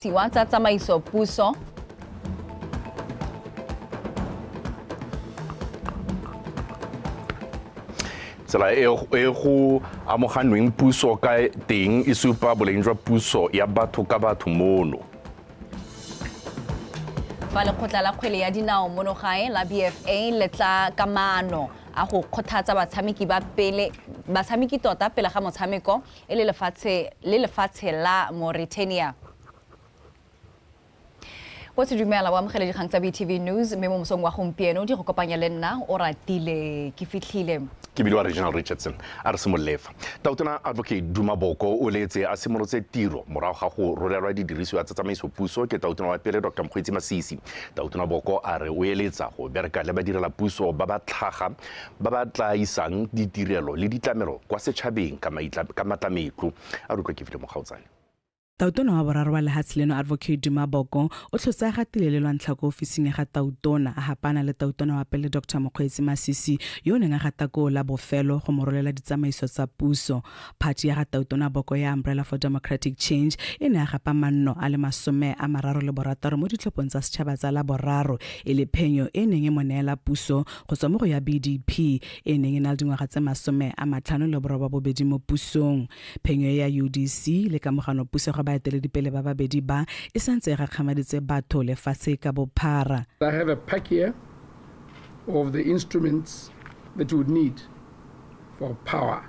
Tiwa tsa tsamaiso puso. tsela e e go amoganweng puso ka teng e supa boleng jwa puso ya batho ka batho mono fa lekgotla la kgwele ya dinao mono gae la bfa le tla ka maano a go kgothatsa batshameki ba pele batshameki tota pele ga motshameko e le lefatshe le lefatshe la Mauritania. Botse dumela o amogele dikgang tsa BTV News mme mo mosong wa gompieno di go kopanya le nna o ratile ke fitlhile. ke bidiwa reginal richardson a re simololefa tautona advocate duma boko o leetse a simolotse tiro morago ga go rolelwa didirisiwa tsa tsamaiso puso ke tautona wa pele dr mokgweetsi masisi tautona boko a re o eletsa go bereka le badirela puso ba ba tlhaga ba ba tla isang ditirelo le ditlamelo kwa setšhabeng ka matlametlo, a re utlwa ke File Mokgaotsane. Tautona wa boraro wa lehatshe leno Advocate Duma Boko o tlhotse a gatile le lwantlha ko ofising ya ga Tautona a hapana le Tautona wa pele Doctor Mokgweetsi Masisi yo o neng a gata koo la bofelo go mo rolela ditsamaiso tsa puso. Phathi ya ga Tautona Boko ya Umbrella for Democratic Change e ne a gapa manno a le masome a mararo le borataro mo ditlhophong tsa setšhaba tsa la boraro e le phenyo e neng e mo neela puso go tswa mo go ya BDP e neng e na le dingwaga tse masome a matlhano le boroba bobedi mo pusong. Phenyo e ya UDC le kamogano puso ga baeteledipele ba babedi ba e santse e gakgamaditse batho lefatshe ka bophara. I have a pack here of the instruments that you would need for power.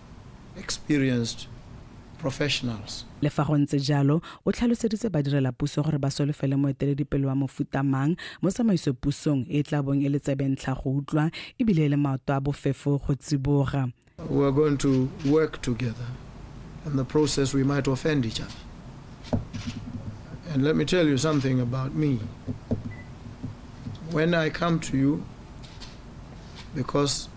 experienced professionals. Le fa go ntse jalo, o tlhaloseditse badirelapuso gore ba solofele moeteledipele wa mofuta mang mo tsamaisopusong e e tla bong e le tsebentlha go utlwa e bile e le maoto a bofefo go tsiboga. We are going to work together. In the process we might offend each other. And let me tell you something about me. When I come to you because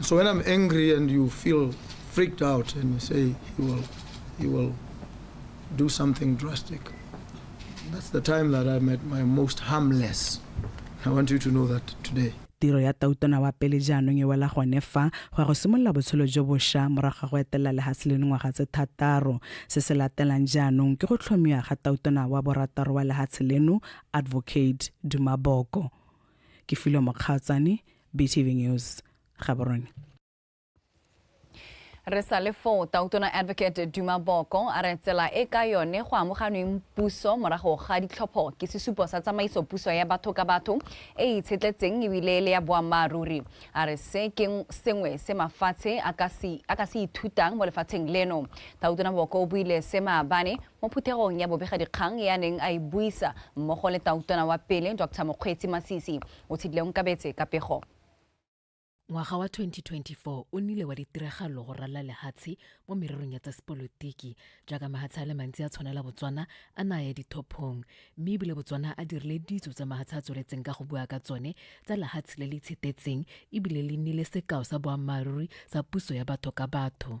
So when I'm angry and you feel freaked out and you say you will, you will do something drastic, that's the time that I'm at my most harmless. I want you to know that today. tiro ya tautona wa pele jaanong e wela gone fa go ya go simolola botshelo jo bošwa morago ga go etelela lehatshe le dingwaga tse thataro se se latelang jaanong ke go tlhomiwa ga tautona wa borataro wa lehatshe leno advocate dumaboko ke filo mokgatsane btv news gaborone re sa le foo tautona advocate duma boko a re tsela e ka yone go amoganweng puso morago ga ditlhopho ke sesupo sa tsamaiso puso ya batho ka batho e e itshetletseng ebile le ya boammaaruri a re se ke sengwe se mafatshe a ka se ithutang mo lefatsheng leno tautona boko o buile se maabane mo phuthegong ya bobegadikgang ya neng a e buisa mmogo le tautona wa pele dr mokgweetsi masisi o tshedile onkabetse ka pego Ngwaga wa 2024 o nile wa ditiragalo go ralla lehatshe mo mererong ya tsa sepolotiki jaaka mahatshe a le mantsi a tshwanela Botswana a na ya dithophong mme ebile Botswana a dirile ditso tsa mahatshe a tsweletseng ka go bua ka tsone tsa lehatshe le le itshetetseng ebile le nnile sekao sa boammaaruri sa puso ya batho ka batho.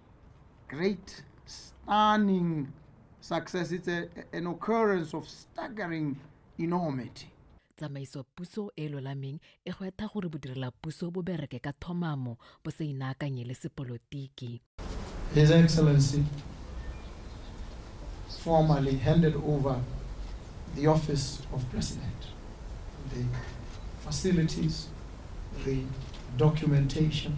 great, stunning success. It's a, an occurrence of staggering enormity. tsamaiso puso e lolameng e gwetha gore bodirela puso bo bereke ka thomamo bo sa inaakanye le sepolotiki His Excellency formally handed over the office of president, the facilities, the documentation,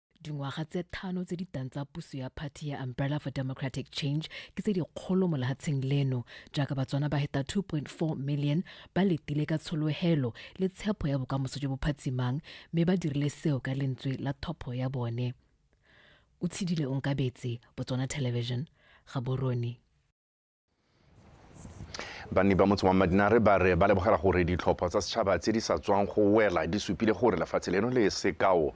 dingwaga tse thano tse di tang tsa puso ya party ya umbrella for democratic change ke tse dikgolo mo lehatsheng leno jaaka batswana ba heta 2.4 million ba letile ka tsholohelo le tshepo ya bokamoso jo bo phatsimang mme ba dirile seo ka lentswe la thopho ya bone o tshidile onkabetse botswana television ga borone banni ba motse wa madinare ba re ba lebogela gore ditlhopho tsa setšhaba tse di sa tswang go wela di supile gore lefatshe leno le sekao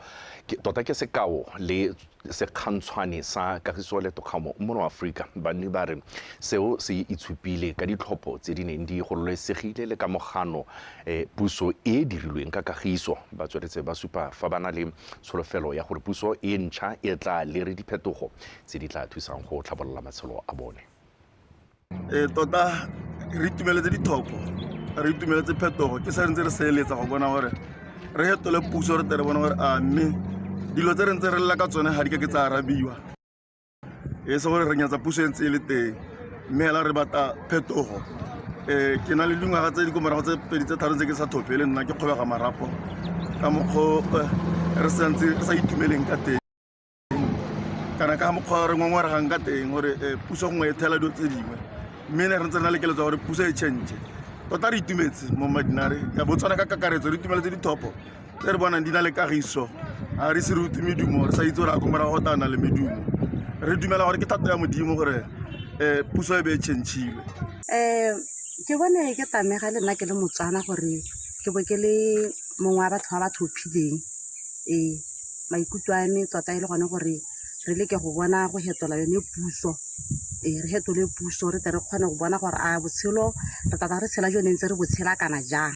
tota ke sekao le sekgantshwane sa kagiso le tokgamo mono aforika banni ba re seo se itshupile ka ditlhopho tse di neng di gololesegile le ka mogano eh, puso e e dirilweng ka kagiso ba tsweletse ba supa fa ba na le tsholofelo ya gore puso e ntšha e tla lere diphetogo tse di tla thusang go tlhabolola matshelo a bone Ee, tota re itumeletse dithopo re itumeletse phetogo ke sa ntse re seeletsa go bona gore re fetole puso re tere bona gore a mme dilo tse re ntse re lela ka tsone ga di ka ke tsa arabiwa e se gore re nyatsa puso e ntse e le teng mme fela re batla phetogo um ke na le dingwaga tse di ko morago tse pedi tse tharo tse ke sa thope le nna ke kgobega marapo ka mokgwa re sa ntse re sa itumeleng ka teng kana ka mokgwa re ngongoregang ka teng gore eh, puso gongwe e thela dilo tse dingwe mme ne re ntse re na le keletso gore puso e change tota re itumetse mo madinare ka botswana ka kakaretso re itumele tse dithopo tse re bonang di na le kagiso ga re se re utlwe medumo re sa itse gore a komora go tana le medumo re dumela gore ke thato ya modimo gore um puso e be e changile um ke bone ke tamega le nna ke le motswana gore ke bo ke le mongwe wa batho ba ba tlhophileng Ee, maikutlo a me tota e le gone gore re leke go bona go fetola yone puso. Ee, re fetole puso re tle re kgone go bona gore a botshelo re tla tla re tshela jo ne ntse re bo tshela kana jang.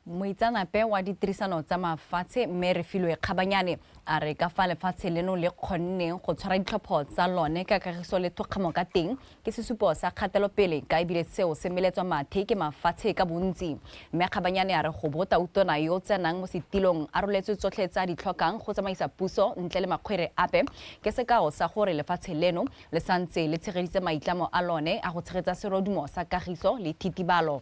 moitseanape wa ditirisano tsa mafatshe mme re filwe kgabanyane a re ka fa lefatshe leno le kgonneng go tshwara ditlhopho tsa lone ka kagiso le thokgamo ka teng Ke sesupo sa kgatelopele ka ebile seo se meletswa mathe ke mafatshe ka bontsi. Mme Kgabanyane a re go bo tautona yo o tsenang mo setilong a roletswe tsotlhe tse a di tlhokang go tsamaisa puso ntle le makgwere ape ke sekao sa gore lefatshe leno le santse le tshegeditse maitlamo a lone a go tshegetsa serodumo sa kagiso le thitibalo.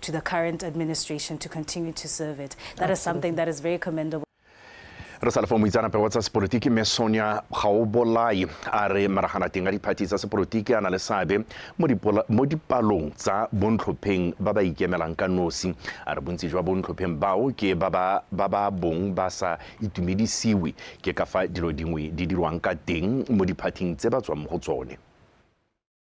to the current administration to continue to serve it. That Absolutely. is something that is very commendable. re sa lefa moitseanape wa tsa sepolotiki mme sonia gaobolai a re maraganateng a diphathi tsa sepolotiki a na le seabe mo dipalong tsa bontlhopheng ba ba ikemelang ka nosi a re bontsi jwa bontlhopheng bao ke ba ba bong ba sa itumedisiwe ke ka fa dilo dingwe di dirwang ka teng mo diphathing tse ba tswang mo go tsone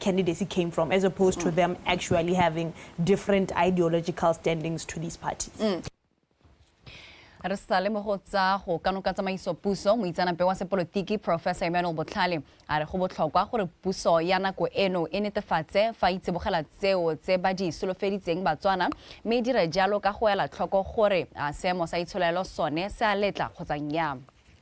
candidacy came from as opposed to mm. them actually having different ideological standings to these parties mm. re sa le mo go tsa go kano ka tsamaiso puso moitseanape wa sepolotiki professor emmanuel botlhale a re go botlhokwa gore puso ya nako eno e netefatse fa itsibogela tseo tse ba di solofeditseng batswana mme e dire jalo ka go ela tlhoko gore a seemo sa itsholelo sone se a letla kgotsa nnyama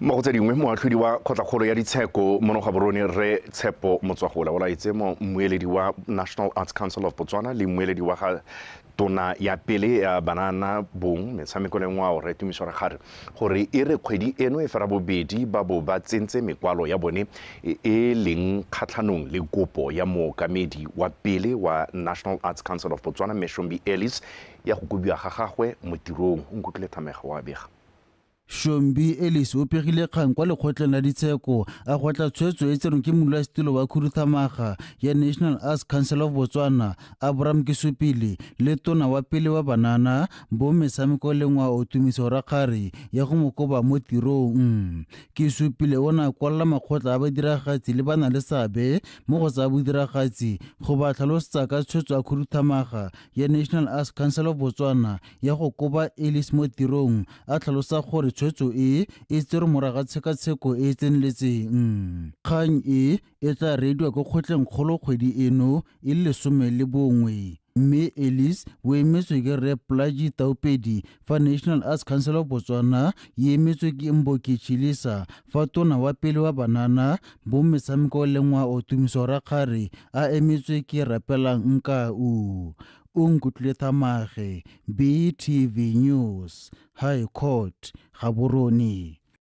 mo go tse dingwe moatlhodi wa kgotlakgolo ya ditsheko mono ga borone re tshepo motswagola o laetse mo mmueledi wa national arts council of botswana le mmueledi wa ga tona ya pele ya banana bong metshameko le ngwao re tumiso re gare gore e re kgwedi eno e fera bobedi ba bo ba tsentse mekwalo ya bone e e leng kgatlhanong le kopo ya mookamedi wa pele wa National Arts Council of Botswana Mme Shombi Ellis ya go kobiwa ga gagwe mo tirong. O nkutlwile Thamega wa bega. Shombi Ellis o pegile kgang kwa lekgotleng la ditsheko a gotla tshwetso e tserweng ke modulasetilo wa khuduthamaga ya National Arts Council of Botswana Abram Kisupile le tona wa pele wa banana Bo metshameko le ngwa o tumiso rakgare ya go mo koba mo tirong. Ke supile o na kwalla makgotla a badiragatsi le ba na le sabe mo go tsa bodiragatsi go ba tlhalosetsa ka tshwetso a khuduthamaga ya National Arts Council of Botswana ya go koba Ellis mo tirong a tlhalosa gore tshwetso e e tserwe moraga tshekatsheko e e tseneletseng. Kgang e e tla reediwa ko kgotleng kgolo kgwedi eno e le lesome le bongwe mme elis o emetswe ke rre plaji taupedi fa national arts council of botswana e emetswe ke mboki chilisa fa tona wa pele wa banana bo metshameko le ngwao tumiso rakgare a emetswe ke rapelang nkau o nkutlwile thamage btv news high court gaborone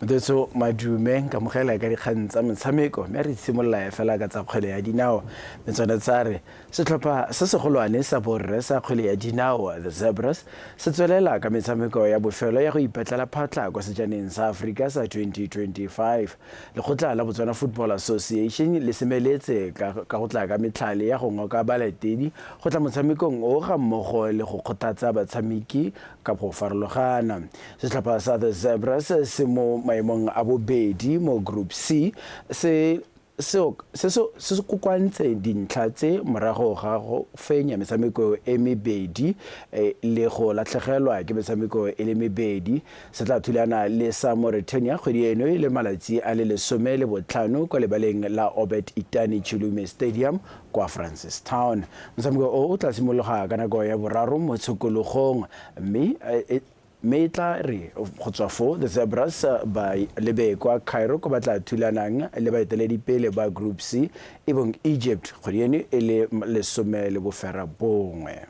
Motetso Madume nkamogela ka dikgang tsa metshameko mme re itshimolola e fela ka tsa kgwele ya dinao mme tsone tsa re setlhopha se segolwane sa borre sa kgwele ya dinao the Zebras se tswelela ka metshameko ya bofelo ya go ipatlela phatlha kwa sejaneng sa Aforika sa 2025 lekgotla la Botswana Football Association le semeletse ka go tla ka metlhale ya go ngoka balatedi go tla motshamekong o ga mmogo le go kgothatsa batshameki ka go farologana Setlhopha sa The Zebras se mo maemong a bobedi mo Group C se se kokoantse dintlha tse morago ga go fenya metshameko e mebedi e, le go latlhegelwa ke metshameko e le mebedi. Se tla thulana le sa Mauritania kgwedi eno e le malatsi a le lesome le botlhano kwa lebaleng la Obert Itani Chulume Stadium kwa Francistown. Motshameko o o tla simologa ka nako ya boraro mo tshokologong mme e, e, Mme e tla re go tswa foo The Zebras ba lebe kwa Cairo ko ba tla thulanang le baeteledipele ba Group C e bong Egypt kgwedi eno e le lesome le boferabongwe.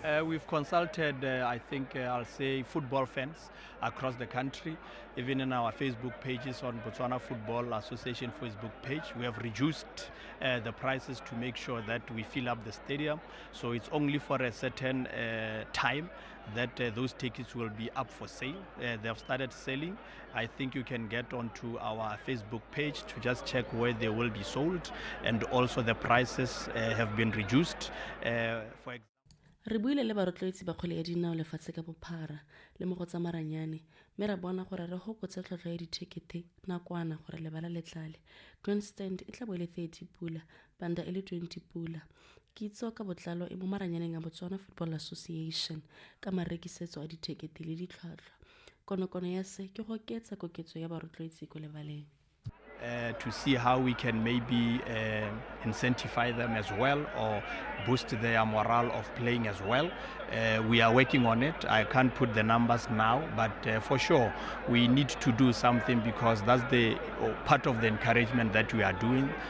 Uh, we've consulted, uh, I think uh, I'll say, football fans across the country, even in our Facebook pages on Botswana Football Association Facebook page. We have reduced uh, the prices to make sure that we fill up the stadium. So it's only for a certain uh, time that uh, those tickets will be up for sale. Uh, they have started selling. I think you can get onto our Facebook page to just check where they will be sold, and also the prices uh, have been reduced. Uh, for example, re buile le barotloetsi ba kgwele ya dinao lefatshe ka bophara le mo go tsa maranyane mme ra bona gore re gokotse tlhotlhwa ya dithekete nakwana gore lebala le tlale grandstand e tla bo e le 30 pula Banda e le 20 pula. Kitso ka botlalo e mo maranyaneng a Botswana Football Association ka marekisetso a dithekete le ditlhwatlhwa. Konokono ya se ke go oketsa koketso ya barotloetsi ko lebaleng. Uh, to see how we can maybe uh, incentivize them as well or boost their morale of playing as well. Uh, we are working on it. I can't put the numbers now, but uh, for sure we need to do something because that's the uh, part of the encouragement that we are doing.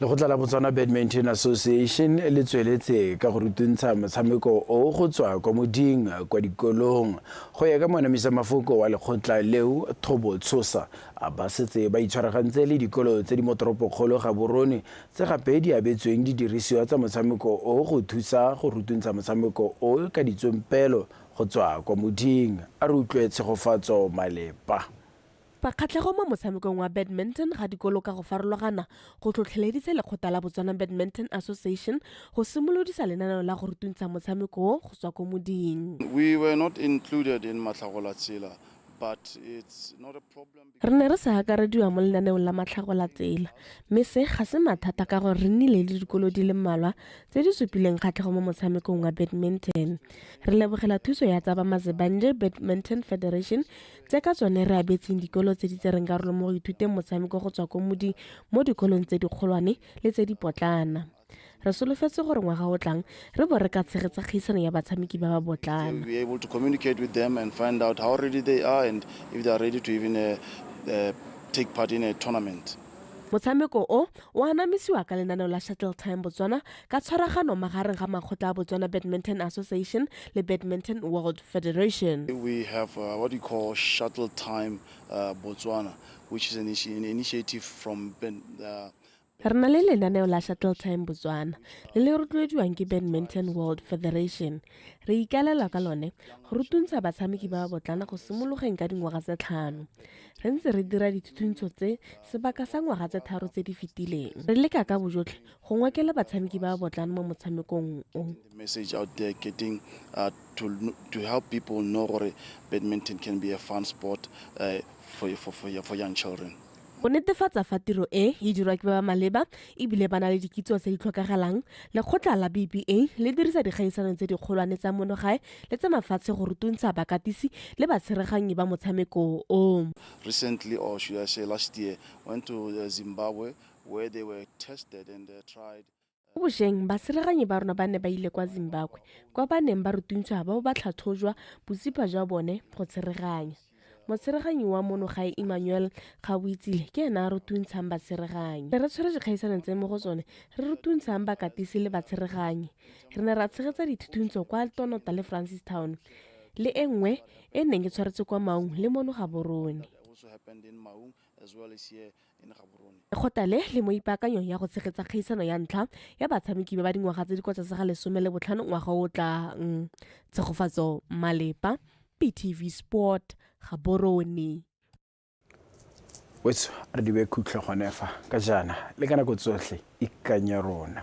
lekgotla la botswana badminton association le tsweletse ka go rutuntsha motshameko o go tswa kwa moding kwa dikolong go ya ka monamisa mafoko wa lekgotla leo thobo tshosa a ba setse ba itshwaragantse le dikolo tse di mo toropokgolo ga borone tse gape di abetsweng didirisiwa tsa motshameko o go thusa go rutuntsha motshameko o ka ditsompelo go tswa kwa moding a re utlwe tshegofatso malepa Fa kgatlhego mo motshamekong wa badminton ga dikolo ka go farologana go tlhotlheleditse lekgotla la Botswana Badminton Association go simolodisa lenaneo la go rutuntsha motshameko o go tswa ko moding. Re ne re sa akarediwa mo lenaneong la matlhagolatsela, mme se ga se mathata ka gore re nnile le dikolo di le mmalwa tse di supileng kgatlhego mo motshamekong wa badminton. Re lebogela thuso ya tsa ba Mazibandle Badminton Federation, tse ka tsone re abetseng dikolo tse di tsereng karolo mo go ithuteng motshameko go tswa ko modi mo dikolong tse dikgolwane le tse dipotlana re solofetse gore ngwaga o tlang re bo re ka tshegetsa kgaisano ya batshameki ba ba botlana uh, uh, take part in a tournament. Motshameko o, o anamisiwa ka lenaneo la Shuttle Time Botswana ka tshwaragano magareng ga makgotla a Botswana Badminton Association le Badminton World Federation. We have uh, what we call Shuttle Time uh, Botswana, which is an, initi an initiative from ben, uh, Re na le lenaneo la Shuttle Time Botswana le le rotloediwang ke Badminton World Federation. Re ikaelela ka lone go rutuntsha batshameki ba ba botlana go simologeng ka dingwaga tse tlhano. re ntse re dira dithuthuntshô tse sebaka sa ngwaga tse tharo tse di fetileng re leka ka bojotlhe go ngokela batshameki ba ba botlana mo motshamekong o message out there getting uh, to, to help people know gore badminton can be a fun sport uh, for, for, for, for young children go netefatsa fa tiro e e dirwa ke ba ba maleba ebile ba na le dikitso tse di tlhokagalang lekgotla la bba le dirisa dikgaisano tse dikgolwane tsa monogae le tsa mafatshe go rutuntsha bakatisi le batsheraganyi ba motshameko o. Recently or should I say last year went to uh, Zimbabwe where they were tested and uh, tried Mo bosheng, baseraganyi ba rona ba ne ba ile kwa Zimbabwe kwa ba neng ba rutuntsha ba bo ba tlhatlhojwa botsipa jwa bone go tshereganya. Motsereganyi wa mono gae Emmanuel Gaboitsile ke ene a rutuntshang batsereganyi. Ne re tshwere dikgaisanong tse mo go tsone re rutuntshang bakatisi le batsereganyi. Re ne ra tshegetsa dithuthuntso kwa Tonota le Francistown le e nngwe e e neng e tshwaretswe kwa Maung le mono gaborone. Lekgotla le le mo ipaakanyong ya go tshegetsa kgaisano ya ntlha ya batshameki ba ba dingwaga tse di kwa tlase ga lesome le botlhano ngwaga o tlang. Tshegofatso Malepa, PTV Sport, Gaborone. wetso re dibe khutlho gone fa ka jaana le ka nako tsotlhe ikanye rona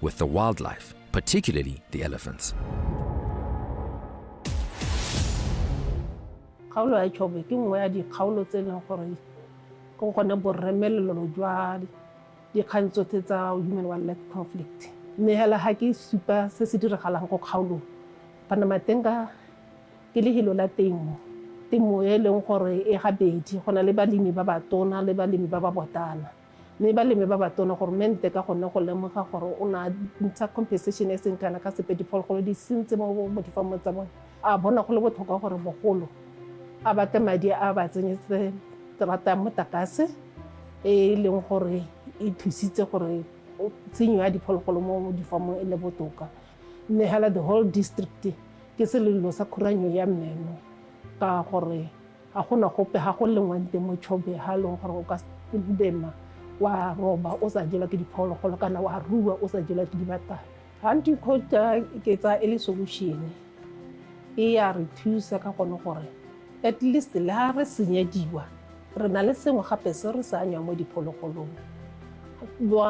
with the wildlife, particularly the elephants. kgaolo ya Chobe ke nngwe ya dikgaolo tse e leng gore ke gone borremelelo jwa dikgang tsotlhe tsa human wildlife conflict mme hela ga ke supa se se diragalang ko kgaolong panamatenga ke lehelo la temo temo e leng gore e gabedi go na le balemi ba batona le balemi ba ba botana mme ba leme ba batona goromente ka gone go lemoga gore o na ntsha compensation e seng kana ka sepe diphologolo di sentse mo mo difamong tsa bone a bona go le botlhokwa gore bogolo a batle madi a ba tsenyetse terata ya motakase e e leng gore e thusitse gore o- tshenyo ya diphologolo mo difamong e le botoka mme hela the whole district ke selelo sa khuranyo ya mmeno ka gore Ga go na gope, ga go lengwang teng mo Chobe ga e leng gore o ka lema wa roba o sa jelwa ke diphologolo kana wa rua o sa jelwa ke dibatana. Hunting coach ke tsaya e le solution e ya re thusa ka gone gore at least le ga re senyediwa re na le sengwe gape se re se anyang mo diphologolong.